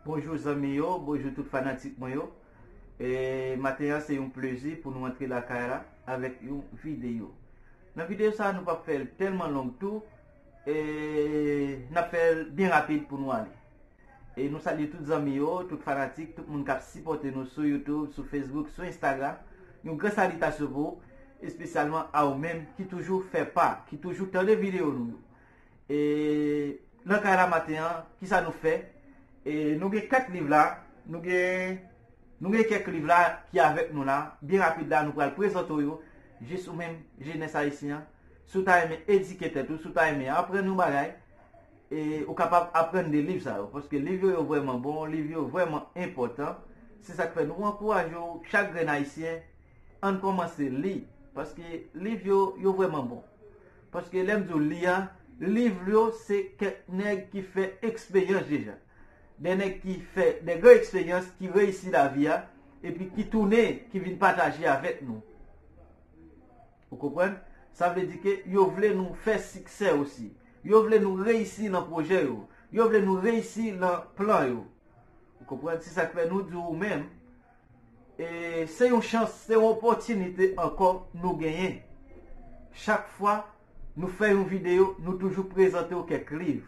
Bonjou zanmi yo, bonjou tout fanatik mwen yo E maten an se yon plezi pou nou antre la kay la avèk yon videyo Nan videyo sa nou pa fèl telman long tou E nap fèl byen rapid pou nou ale E nou salye tout zanmi yo, tout fanatik, tout moun kap sipòte nou sou YouTube, sou Facebook, sou Instagram. Yon gran salitasyon pou ou, espesyalman a ou menm ki toujou fè pa, ki toujou tande videyo nou yo. E nan kay la maten an, ki sa nou fè? E nou gen 4 liv la, nou gen nou gen kèk liv la ki avèk nou la, byen rapid la nou pral prezante ou yo, jis ou menm jenès ayisyen an, si w ta renmen edike tèt ou, si w ta renmen aprann yon bagay, E ou kapab aprann de liv sa yo, paske liv yo yo vrèman bon, liv yo vrèman enpòtan. Se sa k fè nou ankouraje w chak grenn Ayisyen, ann kòmanse li, paske liv yo yo vrèman bon. Paske lè m di w li a, liv yo se kèk nèg ki fè eksperyans deja. De nèg ki fè de gran eksperyans, ki reyisi lavi a, epi ki tounen, ki vin pataje avèk nou. Ou konprann? Sa vle di ke yo vle nou fè siksè osi. Yo vle nou reyisi nan pwojè yo. Yo vle nou reyisi nan plan yo. Ou konprann? Se sa k fè nou di ou menm, e se yon chans, se yon opòtinite ankò nou genyen. Chak fwa nou fè yon videyo, nou toujou prezante ou kèk liv.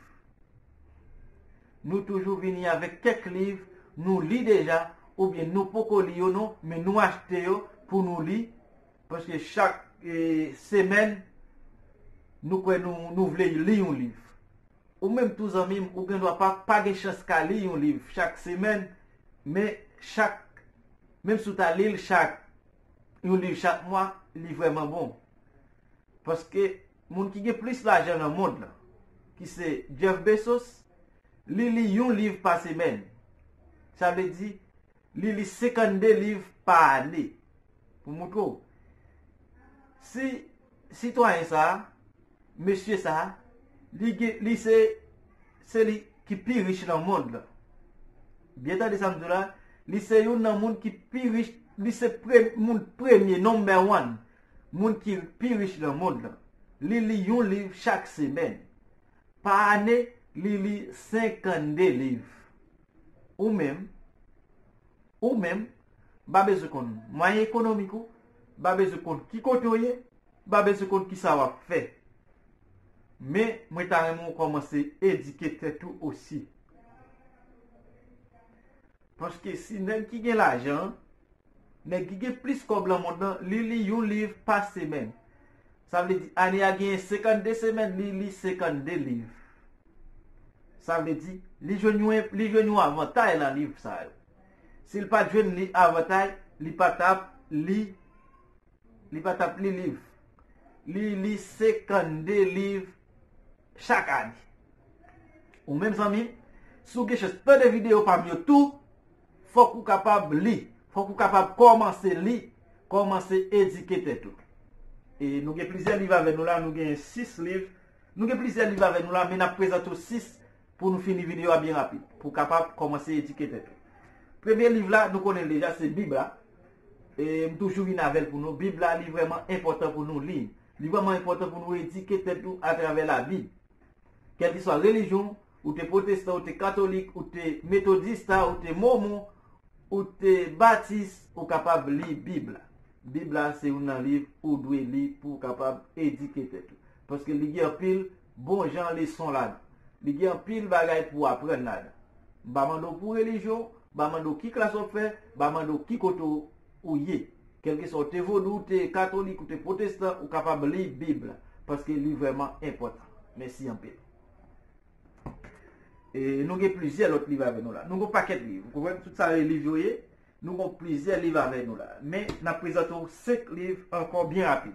Nou toujou vini avèk kèk liv nou li deja, oubyen nou poko li yo non, men nou achte yo pou nou li. Paske chak semèn nou kwè nou vle li yon liv. Ou menm tou zanmi m, ou gen dwa pa pa gen chans ka li yon liv chak semèn, men chak, menm si w ta li l chak, yon liv chak mwa, li vrèman bon. Paske moun ki gen plis lajan nan mond lan, ki se Jeff Bezos, li li yon liv pa semèn. Sa vle di, Li li 52 liv pa ane. Pou moutre w. Si sitwayen sa a, mesye sa a, li gen, li se, se li ki pi rich nan mond lan. Byen tande sa m di w la, li se youn nan moun ki pi rich, li se pre, moun premye, number one, moun ki pi rich nan mond lan. Li li yon liv chak semèn. Pa ane, li li 52 liv. Ou menm, ou menm, ba bezwen konn mwayen ekonomik ou, ba bezwen konn ki kote w ye, ba bezwen konn kisa w ap fè. Men, mwen ta renmen w kòmanse edike tèt ou osi. Paske si nèg ki gen lajan an, nèg ki gen plis kòb lan mond lan, li li yon liv pa semèn. Sa vle di ane a genyen 52 semèn, li li 52 liv. Sa vle di, li jwenn yon enp, li jwenn yon avantay lan liv sa yo. Si l pat jwenn li avantay, li pa t ap li, li pa t ap li liv. Li li 52 liv chak ane. Ou menm zanmi, si w gen chans tande videyo pa m yo tou, fòk ou kapab li, fòk ou kapab kòmanse li, kòmanse edike tèt ou. E nou gen plizyè liv avè nou la, nou gen 6 liv. Nou gen plizyè liv avè nou la men nap prezante w 6 pou nou fini video a byen rapid pou w kapab kòmanse edike tèt ou. Premye liv la nou konnen l deja se bib la e m toujou vin avè l pou nou. Bib la li vrèman enpòtan pou nou li l. Li vrèman enpòtan pou nou edike tèt ou atravè labib. Kèlkeswa relijyon w, ou te pwotestan, ou te katolik, ou te metodista, ou te momon, ou te batis, ou kapab li bib la. Bib la se youn nan liv ou dwe li pou w kapab edike tèt ou. Paske li gen anpil bon jan leson ladan. Li gen anpil bagay pou w aprann ladan. M pa mande w pou relijyon w, m pa mande w ki klas w ap fè, m pa mande w ki kote ou ye. Kèlkeswa ou te vodou, ou te katolik, ou te pwotestan, ou kapab li Bib la. Paske li vrèman enpòtan. Mèsi anpil. E nou gen plizyè lòt liv avè nou la. Nou gen yon pakèt liv. Ou konprann? Tout sa yo e liv yo ye. Nou gen plizyè liv avè nou la. Men, n ap prezante w senk liv ankò byen rapid.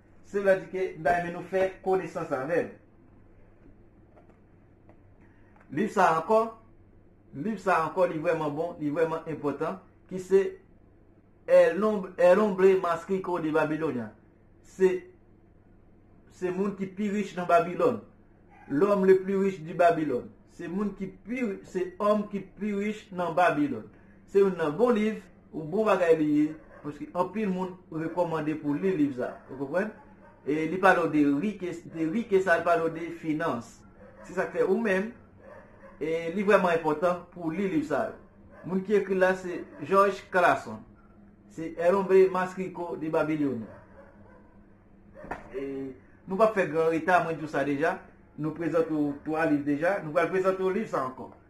Se lè di ke m ta renmen nou fè konesans avè m. Liv sa ankò, liv sa ankò li vrèman bon, li vrèman enpòtan, ki se El Hombre Mas Rico de Babilonia. Se se moun ki pi rich nan Babilòn. L'homme le plus riche de Babylone. Se moun ki pi, se homme ki pi rich nan Babilòn. Se youn nan bon liv. Yon bon bagay li ye, paske anpil moun rekomande pou li liv sa. Ou konprann? E li pale w de rike, de rike sa li pale w de finans. Se sak fè ou menm, e li vreman enpotan pou w li liv sa yo. Moun ki ekri l la se George Clason. Se El Hombre Mas Rico de Babilonia. E nou pap fè gran reta, mwen di w sa deja. Nou prezante w 3 liv deja, nou pral prezante w liv sa ankò.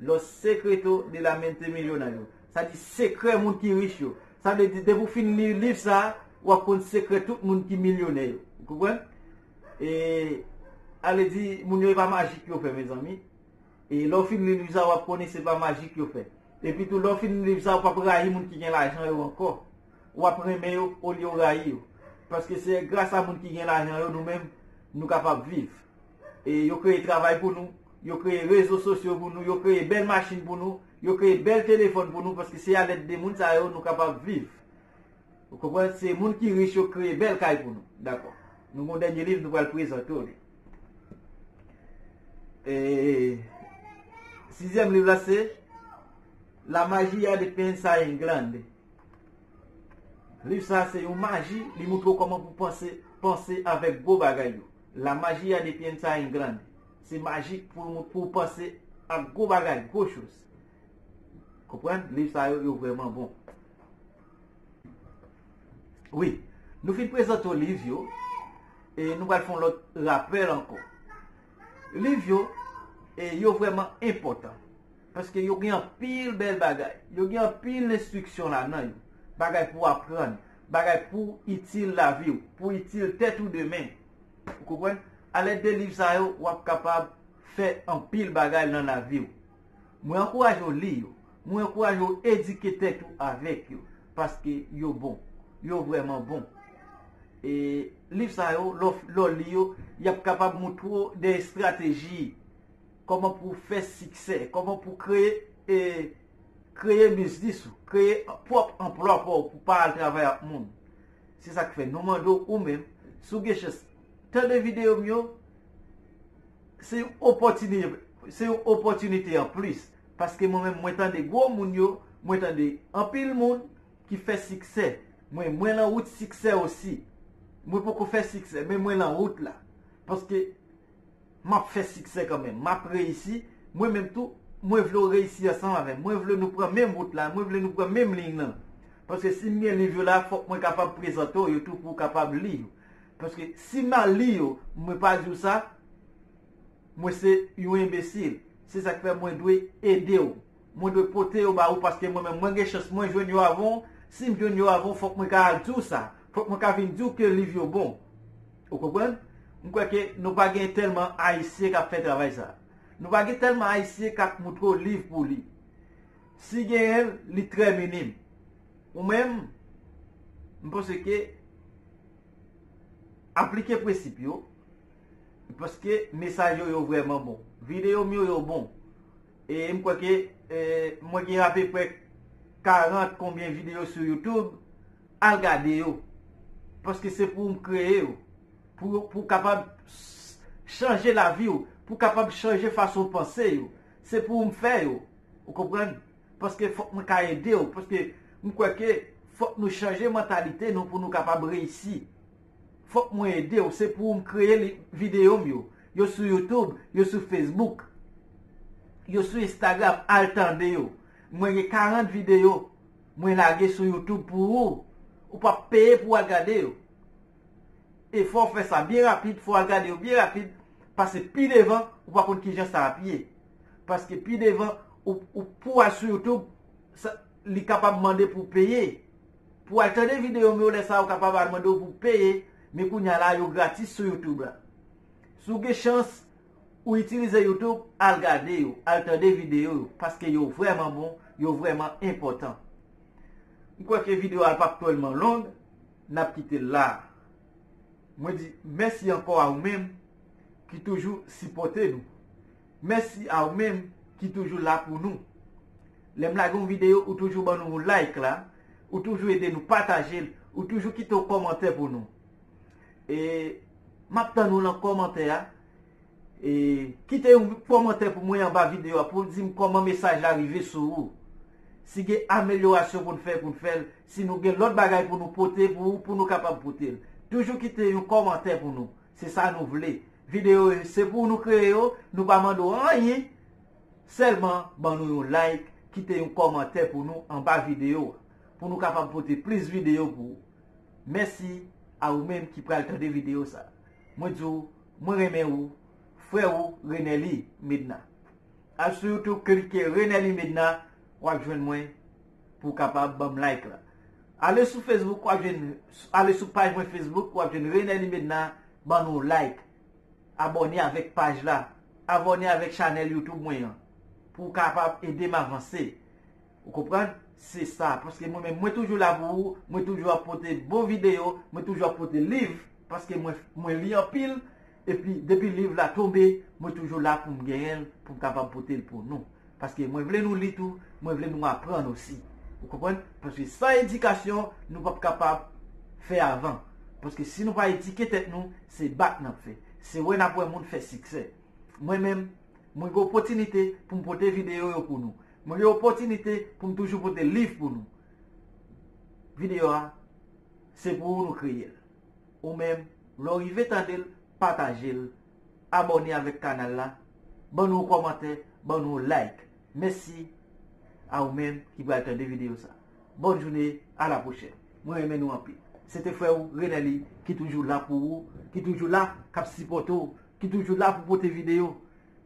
Los Secreto de la Mente Millonario, sa di Sekrè moun ki rich yo. Sa vle di depi w fin li liv sa a, w ap konn sekrè tout moun ki milyonè yo. Ou konprann? E ale di moun yo e pa majik yo fè mezanmi. E lè w fin li liv sa a w ap konnen se pa majik yo fè. Epi tou lè w fin li liv sa a w pa p rayi moun ki gen lajan yo ankò. W ap renmen yo olye w rayi yo. Paske se gras a moun ki gen lajan yo nou menm nou kapab viv. E yo kreye travay pou nou, yo kreye rezo sosyo pou nou, yo kreye bèl machin pou nou, yo kreye bèl telefòn pou nou paske se a lèd de moun sa yo nou kapab viv. Ou konprann? Se moun ki rich yo kreye bèl kay pou nou. Dakò. Nou gon dènye liv nou pral prezante w li. E Sizyèm liv la se La magia de pensa en glande. Liv sa se yon maji li moutre w kòman pou panse, panse avèk gwo bagay yo. La magia de piensa en grande Se maji pou w panse ak gwo bagay, gwo choz. Konprann? Liv sa yo, yo vrèman bon. Wi, nou fin prezante w liv yo, e nou pral fè yon lòt rapèl ankò. Liv yo, yo vrèman enpòtan. Paske yo gen anpil bèl bagay. Yo gen anpil enstriksyon ladan yo. Bagay pou w aprann. Bagay pou itil lavi w, pou itil tèt ou demen. Ou konprann? A lèd de liv sa yo, w ap kapab fè anpil bagay lan lavi w. Mwen ankouraje w li yo. Mwen ankouraje w edike tèt ou avèk yo. Paske yo bon. Yo vrèman bon. E liv sa yo, lè w li yo, y ap kapab moutre w de estrateji. Kòman pou w fè siksè. Kòman pou w kreye Kreye biznis ou, kreye pwòp anplwa pa w pou pa al travay ak moun. Se sa k fè nou mande w ou menm, si w gen chans tande videyo m yo, se yon opòtinite se yon opòtinite an plis paske mwen menm mwen tande gwo moun yo, mwen tande anpil moun ki fè siksè. Mwen mwen lan wout siksè osi. Mwen poko fè siksè men mwen lan wout la paske Map fè siksè kanmenm. Map reyisi. Mwen menm tou, mwen vle w reyisi ansanm avè m. Mwen vle nou pran menm wout la. Mwen vle nou pran menm liy nan. Paske si m gen liv yo la, fòk mwen kapab prezante w yo tou pou w kapab li yo. Paske si m al li yo, mwen pa di w sa, mwen se yon enbesil. Se sa k fè mwen dwe ede w. Mwen dwe pote yo ba ou paske mwen menm mwen gen chans mwen jwenn yo avan w, si m jwenn yo avan w fòk mwen ka al di w sa, fòk mwen ka vin di w ke liv yo bon. Ou konprann? M kwè ke nou pa gen tèlman Ayisyen k ap fè travay sa. Nou pa gen tèlman Ayisyen k ap montre w liv pou w li. Si genyen l, li trè minim. Ou menm, m panse ke aplike prensip yo paske mesaj yo yo vrèman bon. Videyo m yo yo bon. E m kwè ke mwen gen apeprè 40 konbyen videyo sou youtube, al gade yo. Paske se pou m kreye yo. Pou kapab chanje lavi w. Pou kapab chanje fason w panse yo. Se pou m fè yo. Ou konprann? Paske fòk mwen ka ede w. Paske m kwè ke fòk nou chanje mantalite nou pou nou kapab reyisi. Fok mwen edew se pou ou m kreye li video m yo yo sou youtube yo sou facebook yo sou instagram al tande yo mwen gen 40 video mwen lage sou youtube pou ou ou pap peye pou al gade yo e fow fè sa byen rapid fow al gade yo byen rapid pase pi devan ou pa konn kijan sa ap ye paske pi devan ou pou al sou youtube li kapab mande pou peye. Pou al tande video m yo lè sa ou kapab al mande w pou peye men kounya la yo gratis sou youtube la. Si w gen chans ou itilize youtube al gade yo, al tande video yo paske yo vrèman bon, yo vrèman enpòtan. M kwè ke video a pap twèlman long, n ap kite l la. Mwen di mèsi ankò a ou menm ki toujou sipòte nou. Mèsi a ou menm ki toujou la pou nou. Lè m lage yon videyo ou toujou ban nou yon like la, ou toujou ede nou pataje l, ou toujou kite yon kòmantè pou nou. E m ap tann ou lan kòmantè a. E kite yon kòmantè pou mwen anba videyo a pou w di m kòman mesaj la rive sou ou. Si gen amelyorasyon pou n fè pou n fè l, si nou gen lòt bagay pou nou pote pou ou pou nou kapab pote l. Toujou kite yon kòmantè pou nou. Se sa nou vle. Video yo se pou nou kreye yo, nou pa mande w anyen, sèlman ban nou yon like, kite yon kòmantè pou nou anba video a, pou nou kapab pote plis video pou ou. Mèsi a ou menm ki pral tande video sa. Mwen di w, mwen renmen ou, frè ou Renelly Medna. Al sou YouTube klike Renelly Medna, wap jwenn mwen. Pou w kapab banm like la. Ale sou Facebook wap jwenn ale sou paj mwen Facebook wap jwenn Renelly Medna ban nou like. Abòne avèk paj la. Avòne avèk chanèl YouTube mwen an. Pou w kapab ede m avanse. Ou konprann? Se sa. Paske mwen menm mwen toujou la pou ou. Mwen toujou ap pote bon videyo. Mwen toujou ap pote liv. Paske mwen li anpil. Epi depi liv la tonbe mwen toujou la poum genyen l poum kapab pote l pou nou. Paske mwen vle nou li tou, mwen vle nou aprann osi. Ou konprann? Paske san edikasyon nou pap kapab fè avan. Paske si nou pa edike tèt nou, se bak nap fè. Se wè nap wè moun fè siksè. Mwen menm, mwen gen opotinite poum pote videyo yo pou nou. Mwen gen opotinite poum toujou pote liv pou nou. Videyo a, se pou ou nou kreye l. Ou menm lè w rive tande l pataje l abòne avèk kanal la ban nou yon kòmantè ban nou yon like mèsi a ou menm ki pral tande videyo sa bòn joune a la pwochèn mwen renmen nou anpil se te frè w Renelly ki toujou la pou ou ki toujou la kap sipòte w ki toujou la pou pote videyo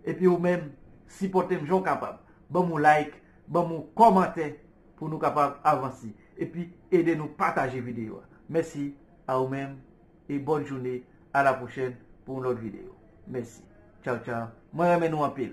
epi ou menm sipòte m jan w kapab banm yon like banm yon kòmantè pou nou kapab avanse. Epi ede nou pataje video a. Mèsi a ou menm e bòn joune a la pwochèn pou yon lòt video. Mèsi. Tchaw tchaw. Mwen renmen nou anpil.